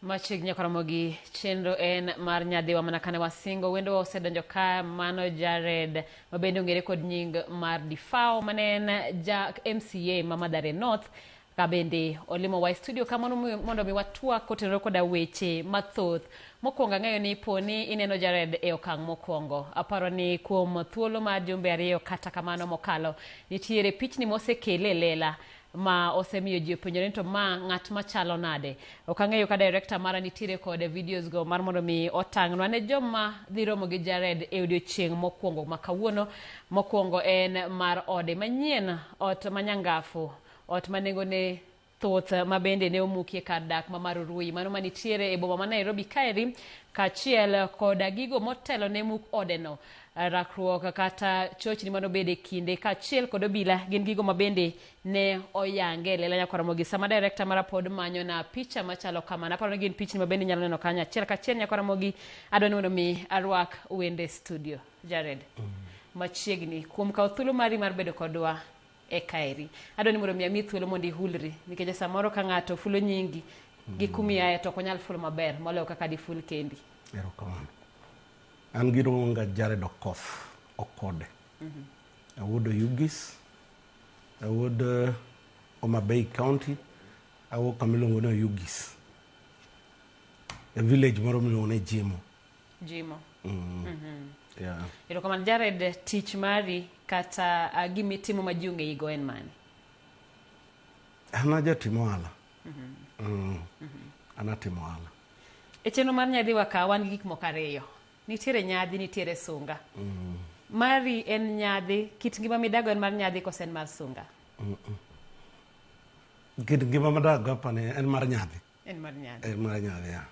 machiegni koromo gi chenro en mar nyadhiwa mana kane wasingo wendo osedonjo ka mano jared mabende ong'ere kod nying mar difao mane en ja mca ma madhare north Kabende olimo wa e studio ka mondo mi- mondo mi watwak kotenore koda weche mathoth. Mokwongo ang'eyo ni po ni ineno Jared e okang' mokwongo. Aparo ni kuom thuolo mar jumbe ariyo kata kamano mokalo, nitiere pichni mosekele e lela ma osemiyo ji openjore ni to ma ng'at machalo nade. Ok ang'eyo ka director mara nitiere kod videos go mar mondo mi otang'nwa ne joma dhi romo gi Jared e odiochieng' mokwongo ma kawuono. Mokwongo en mar ode manyien, ot manyangafu Ot ma nengone thoth ma bende ne omukie kar dak ma Marurui, mano ma nitiere e boma ma Nairobi kaeri, kaachiel koda gigo motelo ne muk odeno, rakruok kata chochni ma nobedo e kinde, kaachiel kod obila gin gigo ma bende ne oyang e lela nyaka Ramogi. Sama Director mara pod manyona picha machalo kama, naparo ni gin pichni ma bende inyalo neno kanyo achiel kachiel nyaka Ramogi, adwa ni mondo mi arwak wende studio. Jared, machiegni kuom kawo thuolo mari mar bedo kodwa. e kaeri. Adwa ni mondo mi amiyi thuolo mondo ihulri nikech samoro ka ng'ato fulo nyingi gi mm. kumi aye to ok onyal fulo maber moloyo kaka diful kendi. Erokamano. An gi Rung'onga Jared Okoth Okode. Mhm. Awuod Oyugis. Awuod eh, Homa Bay County. Awuok kama iluongo ni Oyugis. E village moro miluongo ni Jimo. jimo mm. mm-hmm. yeah. erokamano jared tich mari kata uh, gima itimo ma ji ong'eyigo en mane an ajatim ohala mm-hmm. mm. mm-hmm. an atimo ohala e chenro mar nyadhi wakawa wan gi gik moko ariyo nitiere nyadhi nitiere sunga mm. mari en nyadhi kit ngima midago en mar nyadhi kose en mar sunga mm -mm. kit ngima madago apani en mar nyadhi En mar nyadhi. En mar nyadhi ya.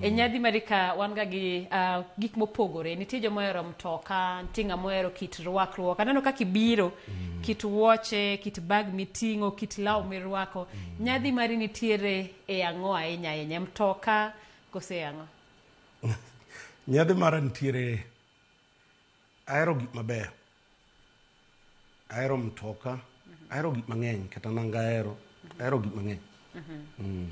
e nyadhi marika wan ga gi uh, gik mopogore nitie joma ohero mtoka nitie ng'ama ohero kit rwakruok aneno kaka ibiro mm. kit wuoche kit bag miting'o kit law mirwako mm. nyadhi mari nitiere e ang'o ahinya ahinya mtoka kose e ang'o nyadhi mara nitiere ahero gik mabeyo Ahero mtoka, ahero gik mang'eny, kata nanga ahero, ahero gik mang'eny. Mm.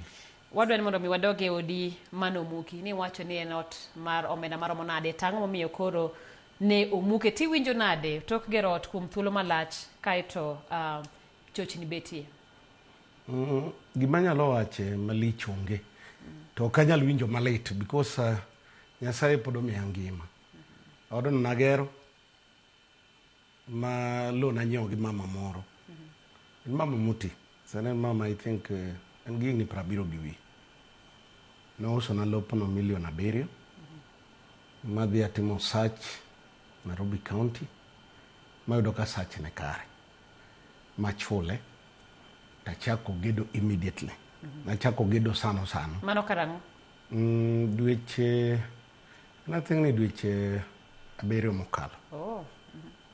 Wadwa ni mondo mi wadog e odi mane omuki, ni wacho ni en ot mar omenda maromo nade, to ang'o momiyo koro ne omuke, to iwinjo nade tok gero ot kuom thuolo malach kaeto ah, chochni betie? Mm, gima anyalo wache malich onge to ok anyal winjo malit because uh, nyasaye pod omiya ngima odno nagero ma loan anyiewo gi mama moro en mama moti sani en mama i think eh, en gi higni prabiro gi wiye nousona lopno milion abiriyo madhi atimo search nairobi county mayudo ka search ne kare machule tachako gedo immediately nachako gedo sano sano mano karang'o Mm, dweche Nathingni dweche abiriyo mokalo. Oh.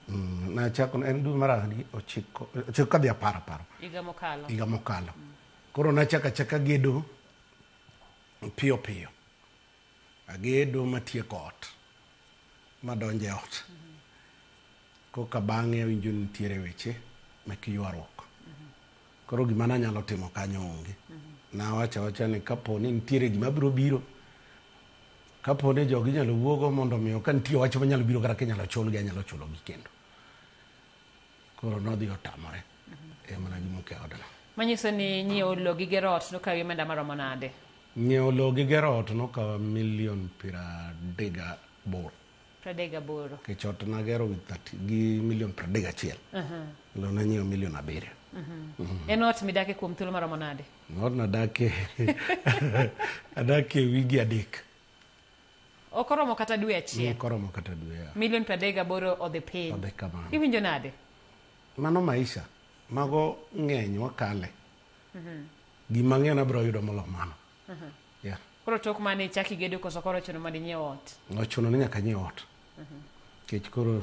Mm, nachako en dwe mar adi ochiko ochiko kadhi apar aparo Higa mokalo. higa mokalo koro nachako achaka gedo piyo piyo agedo matieko ot madonjo e ot koka bang'e awinjo ni nitiere weche mek ywaruok Koro gima nanyalo timo kanyo onge. Nawacho awacha ni kapo ni nitiere gima biro biro, kapo ni jogi inyalo wuogo mondo omiyo ka nitie wach manyalo biro kata kinyalo chulgi anyalo chulogi kendo. Koro nodhi otamore e mana gi muke odno. Manyiso ni nyiewo lowo gi gero ot nokawi omenda maromo nade? Nyiewo lowo gi gero ot nokawa milion piero adek gaboro. 38. Kech ot nagero gi thati- gi milion 31. Lo nanyiewo milion abiriyo. En ot midake kuom thuolo maromo nade? Not nadake adake wigi adek. Ok oromo kata dwe achiel. Ok oromo kata dwe. ya. Milion 38 odhi piny. Odhi kamano. Iwinjo nade? Mano maisha. Mago ng'eny wakale. Gima ng'eny abiro yudo molo mano. yeah. koro tok mane ichak igedo koso koro ochuno mondo inyiew ot nochuno ni nyaka anyiew ot nikech koro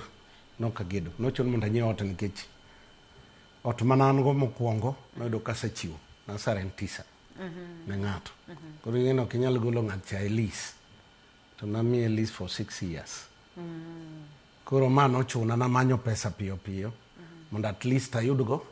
nok agedo nochuno mondo anyiew ot nikech ot ma an go mokwongo noyudo kasechiwo nasarentisa ne ng'ato koro ing'eni ok inyal golo ng'at cha e lease to namiye lease for six years koro ma nochuna namanyo pesa piyo piyo mondo at least ayudgo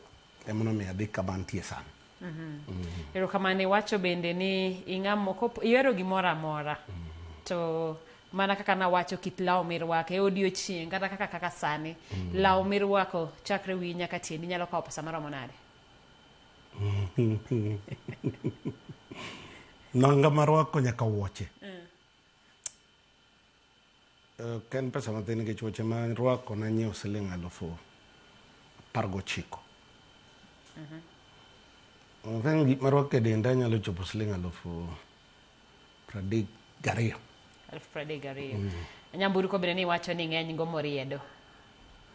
Emonomiyo adhi kama antie sani. Mm-hmm. Erokamano iwacho bende ni ing'amo ihero gimoro amora mm-hmm. to mana kaka nawacho kit law mirwako e odiochieng' kata kaka kaka sani mm. law mirwako chakre wiyi nyaka tieni nyalo kawo pesa maromo nade nanga marwako nyaka wuoche mm. Ok en pesa mathin nikech wuoche ma arwako nanyiewo siling' alufu apar gochiko. I think gik marwako e denda nyalo chopo siling' alufu pradek gariyo. Alufu pradek gariyo. Nyamburko bende niwacho ni ng'eny go moriedo.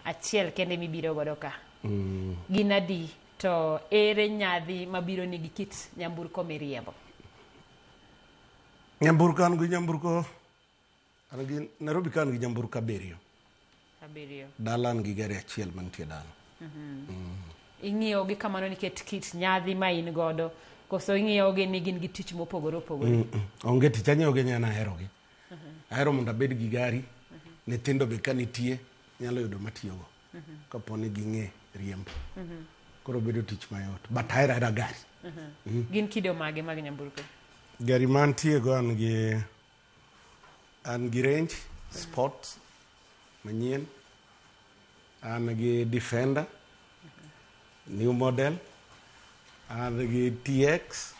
Achiel kende mibiro godo ka. Gin adi to ere nyadhi mabiro ni gi kit nyamburko miriembo? Nyamburko an gi nyamburko An gi Nairobi ka an gi nyamburko abiriyo. Abiriyo. Dala an gi gari achiel mantie dala. Mm-hmm. Mm. Ing'iyo gi kamano nikech kit nyadhi ma in godo koso ing'iyo gi ni gin gi tich mopogore opogore. Mm, mm. Onge tich ang'iyo gi nyana ahero gi. Mm-hmm. Ahero mondo abed gi gari. Mm-hmm. Nyithindo be ka nitie nyalo yudo matiyogo. Kapo ni ging'e riembo. Koro bedo tich mayot. But ahero ahera gari. Gin kido mage mag nyamburko? Gari mantie go an gi An gi range sports manyien, an gi defender new model, an gi TX,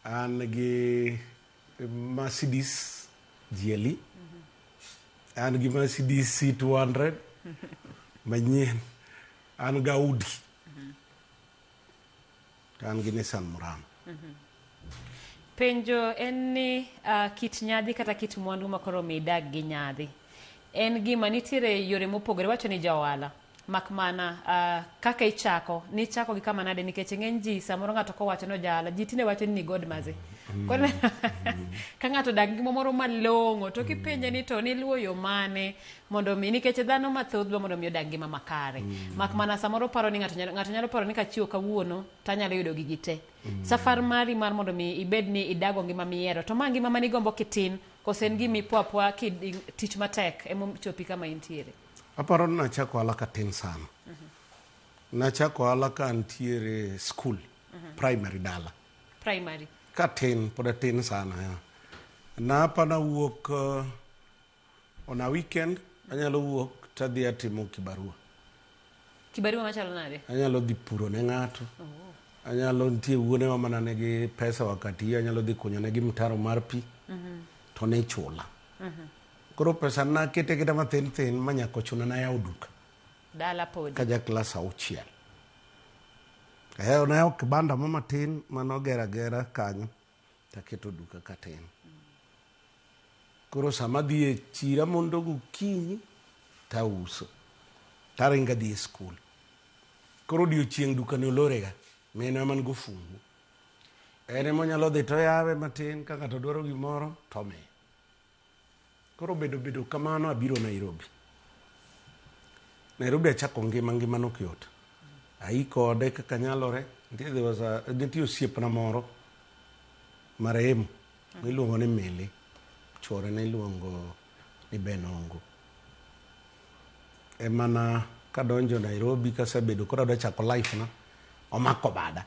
an gi Mercedes GLE, an gi Mercedes C200 manyien, an gi Audi. To an gi Nissan Murano. Penjo en ni ah, kit nyadhi kata kit mwandu ma koro mi idag gi nyadhi en gima nitiere yore mopogore wacho ni ja ohala mak mana ah, kaka ichako nichako gi kama nade nikech ng'eny ji samoro ng'ato kowacho ni ojahala ji tinde wacho ni ni god mazi Koro- ka ng'ato odak gi moro malong'o to kipenje ni to niluwo yo mane Mondo mi nikech dhano mathoth dwa mondo mi odag ngima makare. Mm. Mak mana samoro paro ni ng'ato nyalo ng'ato nyalo paro ni kachiwo kawuono to anyalo yudo gigi te. Mm. Safar mari mar mondo mi ibed ni idago ngima mihero to ma ngima mani gombo kitin kose en gimi pwa pwa ki tich matek emo chopi kama intiere. Aparo ni nachako ala ka tin sana. Mm -hmm. Nachako ala ka antiere school mm -hmm. primary dala. Primary. Ka tin pod tin sana ya. Napa na wuok uh, On a weekend anyalo wuok tadhi atimo kibarua. Kibarua machalo nade? Anyalo dhi puro ne ng'ato. Oh. Anyalo nitie wuone wa mana nigi pesa wakati hiyo anyalo dhi kunyo negi mtaro mar pi. Mm -hmm. To ne chula. Mm -hmm. Koro pesa na kete kete mathin thin manyako chuna na yawo duka. Dala podi. Kaja klas auchiel. Eh, onayawo kibanda mama tin manogera gera kanyo. taketo duka katin. Koro sama adhi e chira mondo gokinyi tauso taringo adhi e skul. Koro odiochieng' dukani olorega, minwa ema nigo fungu. En ema onyalo dhi toyawe matin ka ng'ato dwaro gimoro tomiye. Koro bedo bedo kamano abiro Nairobi. Nairobi achako ngima ngima nok yot. Ai kode kaka nyalore. Nitie there was a nitie osiepna moro marehemu miluongo ni Mili. Chwore ne iluongo ni Ben Ongo. Emana kadonjo Nairobi kasebedo koro adwa chako life na omako bada.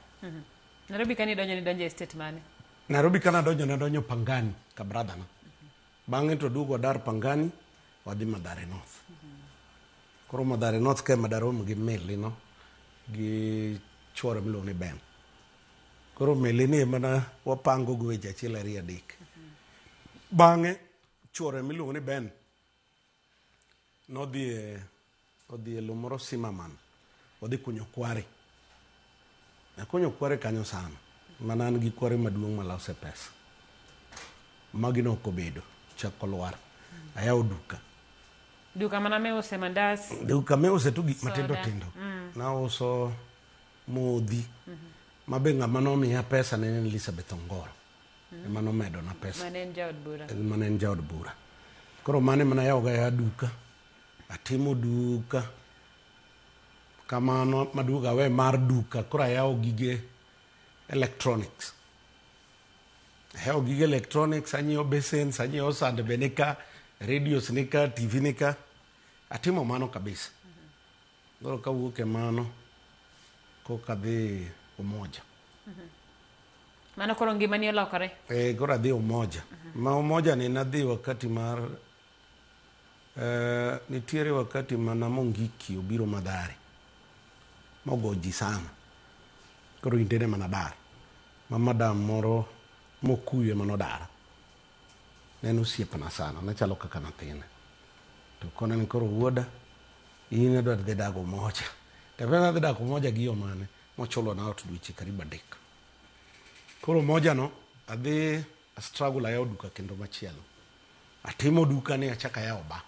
Nairobi kani donjo ni donjo e state mane? Nairobi ka nadonjo nadonjo Pangani ka brother na. Bang'e to duogo adar Pangani wadhi Madhare North. Koro Madhare North ka ema darom gi Milly no gi chuore miluongo ni Ben. Koro Milly ni ema na wapango go weche achiel ariyo adek. Bang'e chuore miluongo ni Ben nodhi e odhi e lowo moro Simaman, odhi kunyo kware. Akunyo kware kanyo sana, mana an gi kware maduong' malose pesa. Magi ne ok obedo, chak olwar. Ayawo duka. Duka mana miuse mandas. Duka miuse tu gik matindo Soda. tindo. Nauso modhi. Mabe ng'ama nomiya pesa ne en Elizabeth Ongoro. mm. ema nomedona pesa mane en jaod bura mane en jaod bura koro mane mana yawoga ya duka atimo duka kamano maduogo awe mar duka koro ayawo gige electronics ayawo gige electronics anyiewo basins anyiewo sand be nika radios nika tv nika atimo mano kabisa Koro kawuok e mano koka adhi Umoja. Mano koro ngimani olokore? Eh, koro adhi Umoja. Ma Umoja ni nadhi wakati mar eh, nitiere wakati ma Namongiki obiro Madhari mogo ji sana. Koro indene mana dar. Ma madam moro mokuyu ema nodara. Ne en osiepna sana, nachalo kaka nathine. To kona ni koro wuoda, in adwa dhi dak Umoja. To aparo nadhi dak Umoja gi yo mane? Mochulo na ot dweche karibu adek. Koro Umoja no, adhi a struggle ayawo duka kendo machielo. Atimo duka ni achak ayawo bar.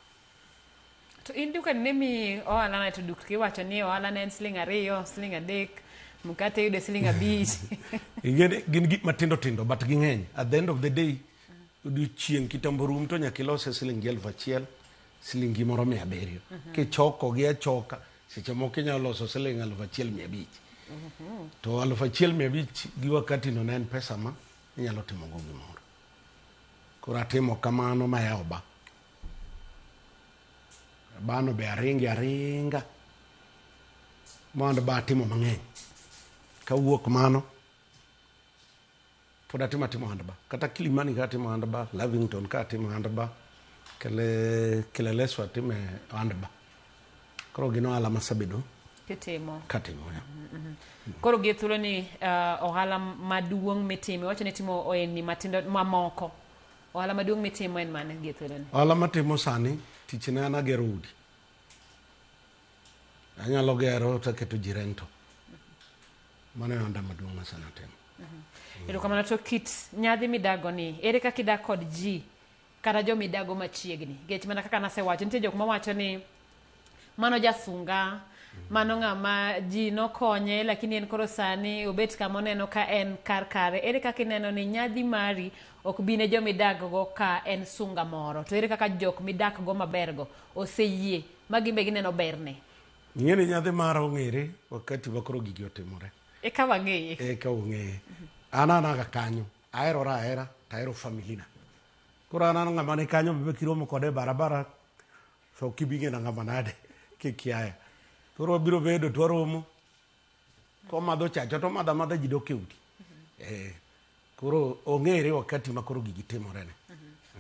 To in dukani ne miyi ohala nade to dukni iwacho ni ohala ne en siling ariyo, siling adek, mkate iyude siling abich. Ing'eni gin gik matindo tindo but ging'eny. At the end of the day, odiochieng' kitambo rum to nyaka ilose silingi elfu achiel, silingi moro mia abiriyo. Kichokogi achoka, seche moko inyalo loso siling elfu achiel mia abich. To elfu achiel mia abich gi wakati no ne en pesa ma inyalo timogo gimoro. Koro atimo kamano mayawo ba. Bano be aringe aringa mondo ba atimo mang'eny kawuok mano pod atimo atimo hand ba kata kilimani ka atimo hand ba lavington ka atimo hand ba kele kileleso atime hand ba koro gin ohala masabedo kitimo katimo ya koro gi thuolo ni uh, ohala maduong' mitimo iwacho ni timo ohelni matindo mamoko Ohala maduong' mitimo en mane gie thuoloni? Ohala matimo sani tichna en agero udi. Anyalo gero to aketo ji rento. Mano e ohanda maduong' masani atimo. Erokamano to kit nyadhi midago ni ere kaka idak kod ji kata jomidago machiegni? Nikech mana kaka nasewacho nitie jok mawacho ni mano jasunga mano ng'ama ji nokonye lakini en koro sani obet kama oneno ka en kar kare ere kaka ineno ni nyadhi mari ok bi ne joma idakgo ka en sunga moro to ere kaka jok midakgo mabergo oseyie ma gin be gineno berne ing'e ni nyadhi mara ong'ere wakati ma koro gigi otimore eka wang'eye eka ong'eye an anaga kanyo aherora ahera tahero familina koro an an ng'ama ni kanyo be kiromo kode e barabara So kibing'ena ng'ama nade kikiaya. Koro wabiro bedo to waromo. Komadho chacha to madha madha ji dok e udi. Eh, koro ong'ere wakati ma koro gigi timorene.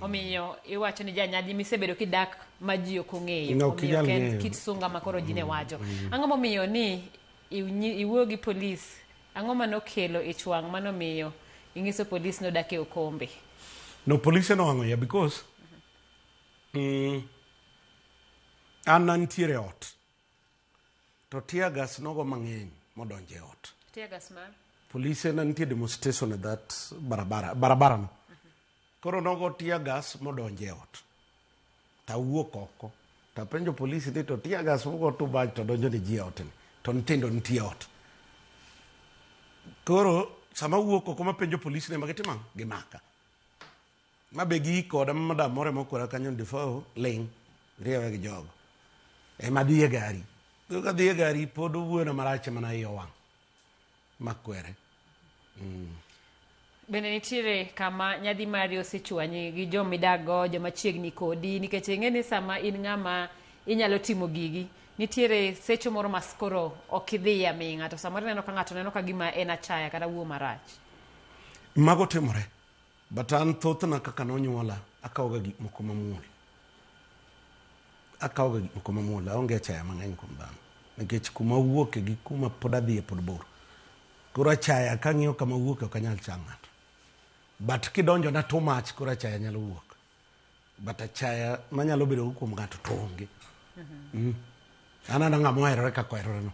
Omiyo iwacho ni janyadhi misebedo kidak ma ji ok ong'eyo. No, ok Omiyo inyal ok en ng'eyo. kit sunga ma koro ji ne wacho. Ang'o momiyo ni iwnyi- iwuoyo gi polis? Ang'o ma nokelo ich wang' ma nomiyo inyiso polis ni odak e okombe? No, polise nowang'o iya because Mm. An nantiere e ot. To tear gas nogo mang'eny modonjo e ot. Tear gas mar? Polise nantie demonstration e that barabara, barabara no. Koro nogo tear gas modonjo e ot. Tawuok oko. Tapenjo polisi ni to tear gas mogo tu baj to donjo ni ji e ot ni. To nyithindo nitie e ot. Koro sama wuok oko mapenjo polisi ne magitimo ang'o? Gimaka. Ma be gi koda ma madam moro mokora kanyo ni Defoe ling' riewe gi jogo. Ema dhi e gari. Koro ka dhi e gari pod owuoyo na marach mana iye owang'. Ma kwere. Mm. Bende nitiere kama nyadhi mari osechwanyi gi jo midago, joma chiegni kodi nikech ing'e ni sama in ng'ama inyalo timo gigi, nitiere secho moro ma skoro ok idhiye aming'a to samoro ineno ka ng'ato neno ka gima en achaya kata wuo marach. Mago timore. But an thothna kaka nonyuola akawoga gik moko mamuol. Akawoga gik moko mamuol, aonge achaya mang'eny kuom dhano. Nikech kuma awuoke gi kuma pod adhiye pod bor. Koro achaya kang'iyo kama awuoke ok anyal cha ng'ato. But kidonjona too much koro achaya nyalo wuok. but achaya manyalo bedo go kuom ng'ato to onge mm. an ana ng'ama oherore kaka oheroreno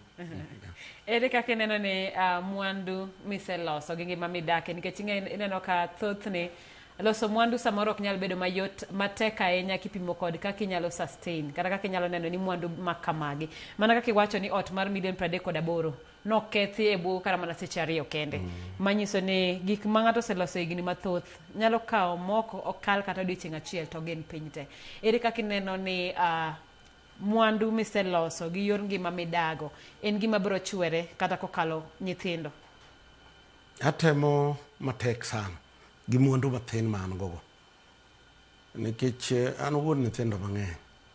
ere kaka ineno ni uh, mwandu miseloso gi ngima midake nikech ineno ka thothne loso mwandu samoro ok nyal bedo mayot matek ahinya kipimo kod kaka inyalo sustain kata kaka inyalo neno ni mwandu makamagi mana kaka iwacho ni ot mar milion pradek kod aboro nokethi e bwo kata mana seche ariyo kende manyiso ni gik ma ng'ato oseloso higni mathoth nyalo kawo mok ok kal kata odiochieng' achiel to gin piny te ere kaka ineno ni ah, mwandu miseloso gi yor ngima midago en gima biro chwere kata kokalo nyithindo atemo matek sana gi mwandu mathin ma an gogo nikech eh, an wuod nyithindo mang'eny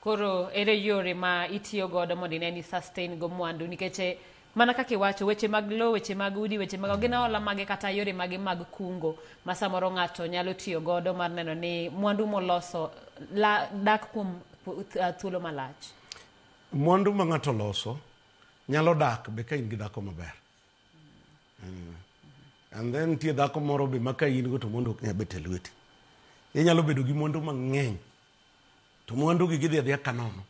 Koro ere yore ma itiyo godo mondo ine ni sustain go mwandu nikech eh, mana kaka iwacho weche mag lowo, weche mag udi, weche mag gin hola mage kata yore mage mag kungo ma samoro ng'ato nyalo tiyo godo mar neno ni mwandu moloso la, dak kuom pu- th- ah, thuolo malach. mwandu ma ng'ato loso nyalo dak be ka in gi dhako maber mm. and then nitie dhako moro be ma ka in go to mondo ok nyabet e lweti inyalo bedo gi mwandu mang'eny to mwandugi gidhi adhiya ka nono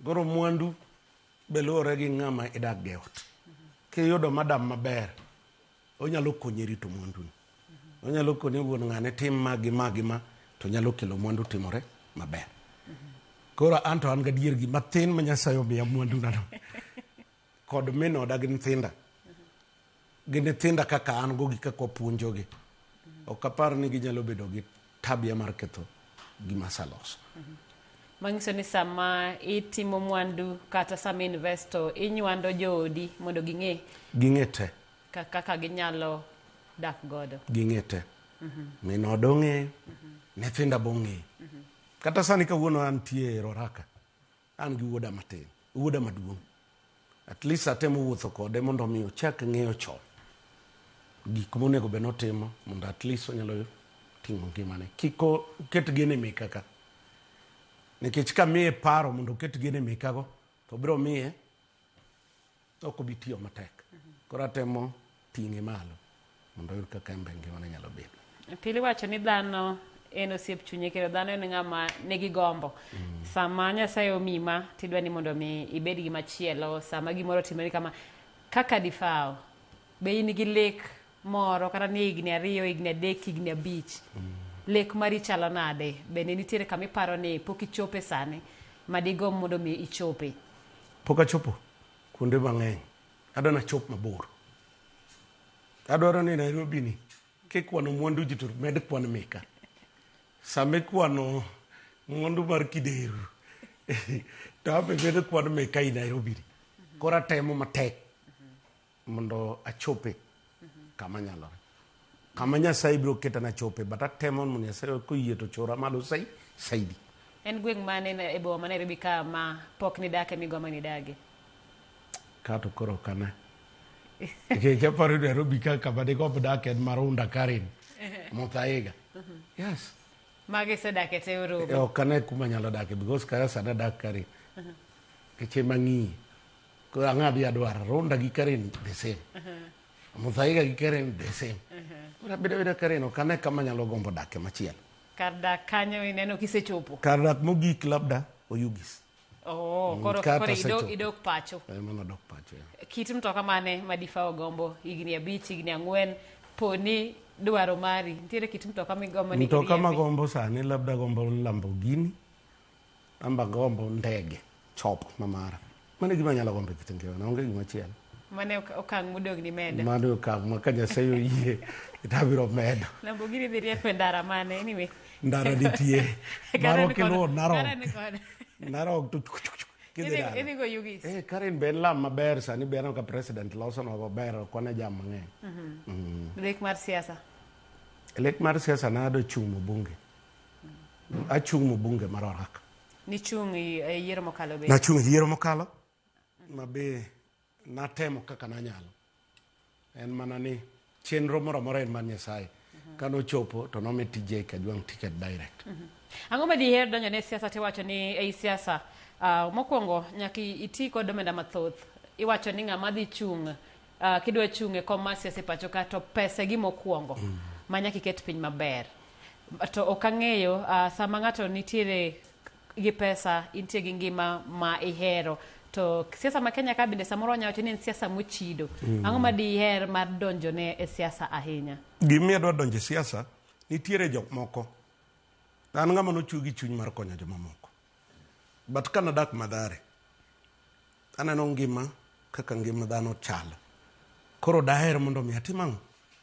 goro mwandu be luwore gi ng'ama idak gi ot kiyudo madam maber onyalo konyi rito mwanduni onyalo konyi wuon ng'ane tim ma gi ma gi ma to nyalo kelo mwandu timore maber koro an to an gadier gi matin ma nyasaye omiya mwandunano kod min oda gi nyithinda gi nyithinda kaka an go gi kaka wapuonjogi ok apar ni ginyalo bedo gi tabia mar ketho gima asaloso manyiso ni sama itimo mwandu kata sama investo inywando joodi mondo ging'e ging'e te kaka ginyalo dak godo ging'e te min oda ong'eyo nyithinda bong'eyo kata sani kawuono antie e roraka An gi wuoda matin, wuoda maduong', at least atemo wuotho kode mondo mi ochak ng'eyo chon gik monego bed notimo mondo at least onyalo ting'o ngimane. Kik oket gene meka ka. Nikech ka miye paro mondo oket gene meka go, to biro miye ok obi tiyo matek. Koro atemo ting'e malo mondo oyud kaka en be ngimane nyalo bedo. Pili wacho ni dhano en osiep chunye kendo dhano en ng'ama nigi gombo. Mm. Sama Nyasaye omi ma tidwa ni mondo mi ibed gi machielo, sama gimoro otimore kama kaka difao be in gi lek moro kata ni higni ariyo, higni adek, higni abich. Mm. Lek mari chalo nade? Bende nitiere kama iparo ni pok ichope sani ma digomb mondo mi ichope? Pok achopo. kuonde mang'eny adwa nachop mabor adwaro ni nairobi ni kikwano mwandu ji to med kwan mika sama ikwano mwandu mar kideru to abe medo kwan mika i nairobi ni koro atemo matek mondo achope kama nyalore kama nyasaye biro keta nachope but atemo mondo nyasaye koyie to chora malo sai saidi en gweng' mane na- e boma ma nairobi ka ma pok nidake migo ma nidage kato koro kana nikech aparo ni nairobi ka kama ne gombo dak en marunda karen mothaega yes mago isedake te oromo E, ok ane kuma nyalo dake because kaya sani adak karen keche mang'iye Koro ang'a adhi adwar Runda gi Karen the same. Muthaiga gi Karen the same. Koro abedo abeda Karen ok ane kama anyalo gombo dakie machielo. Kar dak kanyo ineno kisechopo. Kar dak mogik labda Oyugis. Oh, Mm, koro kae to koro idok asechopo. idok pacho. Eh, Mano dok pacho. eh. Kit mtoka mane ma difa ogombo higni abich, higni ang'wen, poni dwaro mari. Nitiere kit mtoka migombo ni Mtoka iriembi. magombo sani labda gombo Lamborghini Amba gombo ndege chop mamara. Mano e gima anyalo gombo e kit ngimana, onge gima chielo. Mano e ok- okang' modogni medo. Mano e okang' ma ka Nyasaye oyie to abiro medo. Lamborghini dhi rieko e ndara mane anyway. Ndara nitie. Karen Marwa kod- kiluwo Narok. Karen kod- Narok to chuk, chuk, chuk, kidhi Idhi- dala. idhi go Ugis. Eh, Karen be en lam maber sani be aneno ka president losonwa maber ok wane jam mang'eny. Mhm. Mm. Lek mar siasa. Lek mar siasa nado chung' e bunge. Achung' mo bunge mar Orak. Nichung' e yiero mokalo be? Nachung' e yiero mokalo ma be natemo kaka nanyalo. En mana ni chenro moro amora en man Nyasaye. Mhm. Ka nochopo to nomi TJ Kajwang' ticket direct. Mhm. Ang'o ma diher donjo ne siasa tiwacho ni ei siasa uh, mokwongo nyaka iti kod omenda mathoth. Iwacho ni ng'ama dhi chung' Ah, kidwa chung' e kom mar siasa e pacho ka to pesa e gima okuongo ma nyaka iket piny maber to ok ang'eyo ah, sama ng'ato nitiere gi pesa intie gi ngima ma ihero to siasa ma kenya ka bende samoro wanyalo wacho ni en siasa mochido ang'o ma diher mar donjone e siasa ahinya Gimiyo adwa donjo e siasa, nitiere jok moko. An ng'ama nochwe gi chuny mar konyo jomamoko. but kana dak madhare aneno ngima kaka ngima dhano chalo koro daher mondo mi atim ang'o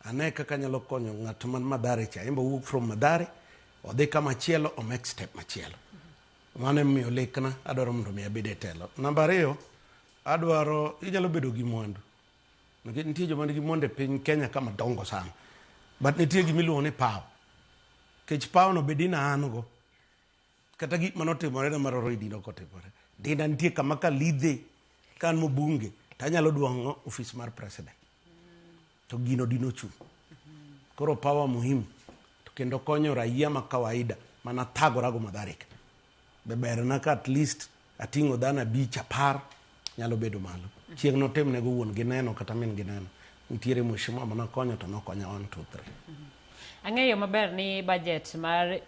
ane kaka anyalo konyo ng'at man madhare cha imbo wuok from madhare odhi kama chielo omek step machielo mano emomiyo lekna adwaro mondo mi abed e telo namba ariyo adwaro inyalo bedo gi mwandu nikech nitie joma nigi mwandu e piny kenya kama dongo sana but nitie gima iluongo ni paw kech pawno bedi na an go Kata gik mane otimorena mar oro e dino ok otimore. Dina nitie kama ka lidhe ka an mobunge to anyalo duong'o ofis mar president. To gino dino ochung'. Koro power muhimu to kendo konyo raia ma kawaida mana thagora go madharika. Be berna ka at least ating'o dhano abich apar nyalo bedo malo. Chieng' notimnego wuon gi neno kata min gi neno. Nitiere mheshimiwa mane okonyo to nokonya one two three. Ang'eyo maber ni budget mar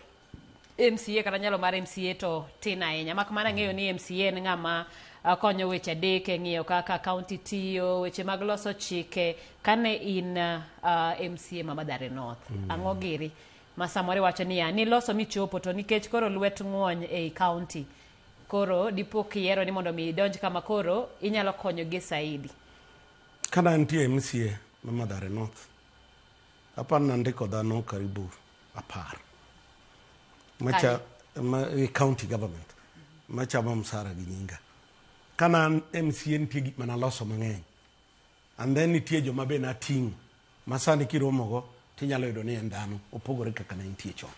MCA kata nyalo mar MCA to tin ahinya mak mana ng'eyo ni MCA en ng'ama uh, konyo weche adek e ng'iyo kaka kaunti tiyo weche mag loso chike kane in uh, uh, MCA ma Mathare North mm. ang'o giri ma samoro iwacho niya niloso michopo to nikech koro lwet ng'wony ei kaunti koro dipo kiyiero ni mondo mi idonj kama koro inyalo konyo gi saidi kana nitie MCA ma Mathare North hapa nandiko dhano karibu apar macha ma e county government machamo msara gi nyinga kana an MCA nitie gik mana loso mang'eny and then nitie joma be nating'o ma sani kiromogo tinyalo yudo ni en dhano opogore kaka ne nitie chon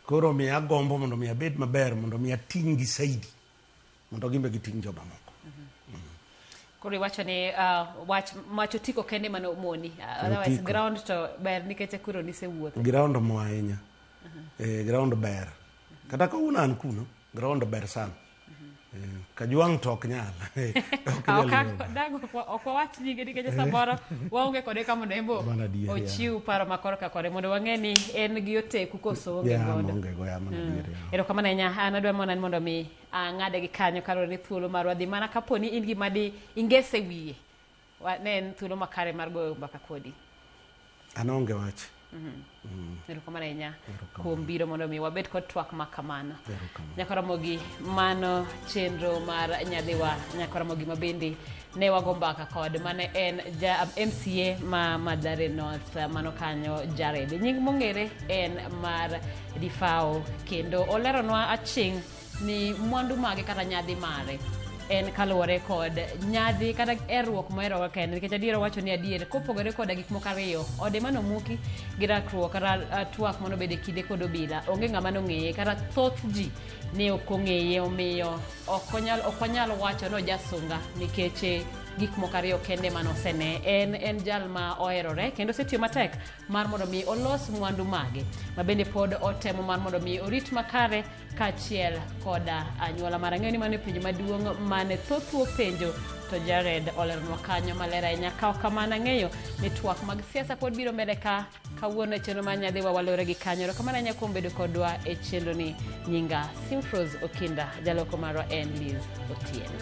koro miya agombo mondo mi abed maber mondo mi ating'gi saidi mondo gimbe giting' jomamoko. Koro iwacho ni ah, wach wach otiko kende mane omoni Ah, otherwise Otiko. ground to ber nikech koro nisewuotho Ground mo ahinya. Eh, ground ber. Kata ka un an kuno, ground ber sana. Eh, Kajwang' to ok nyal. Ok Ah, nyal ok- yudo. dago ok- ok wawach nyinge nikech samoro waonge kode ka mondo embo Mana adier, yeah. ochiw paro ma korka kore mondo wang'e ni en gi oteku koso onge Yeah, godo maonge go, yeah, mana adier, yeah. erokamano ahinya an adwa monan mondo mi Ah, ng'ade gi kanyo kaluwore ni thuolo marwa dhi mana kapo ni in gima di ingese wiye Wa- ne en thuolo makare mar goyo mbaka kodi an onge wach erokamano ahinya kuom biro mondo mi wabed kod twak ma kamano Erokamano. nyakoromogi mano chenro mar nyadhiwa nyakoromogi ma bende ne wago mbaka kod mane en ja mca ma madhare north mano kanyo jared nying mong'ere en mar difao kendo oleronwa aching' ni mwandu mage kata nyadhi mare en kaluwore kod nyadhi kata erruok moheroga kende nikech adier owacho ni adier kopogore koda gik moko ariyo ode manomuki gi rakruok kata ah, twak mano bede kinde kod obila onge ng'ama nong'eye kata thoth ji ne ok ong'eye omiyo ok onyal ok wanyal wacho ni ojasunga nikech eh, gik moko ariyo kende mane osene en en jal ma oherore kendo osetiyo matek mar mondo mi olos mwandu mage ma bende pod otemo mar mondo mi orit makare kachiel koda anyuola mara ng'eyo ni mano e penjo maduong' mane thothwo penjo to jared oleronwa kanyo maler ahinya kawo kamano ang'eyo ni twak mag siasa pod biro mbele ka kawuono e chenro mar nyadhi wawalore gi kanyo ero kamano ahinya kuom bedo kodwa e chenroni nyinga simfros okinda jaloko marwa en liz otieno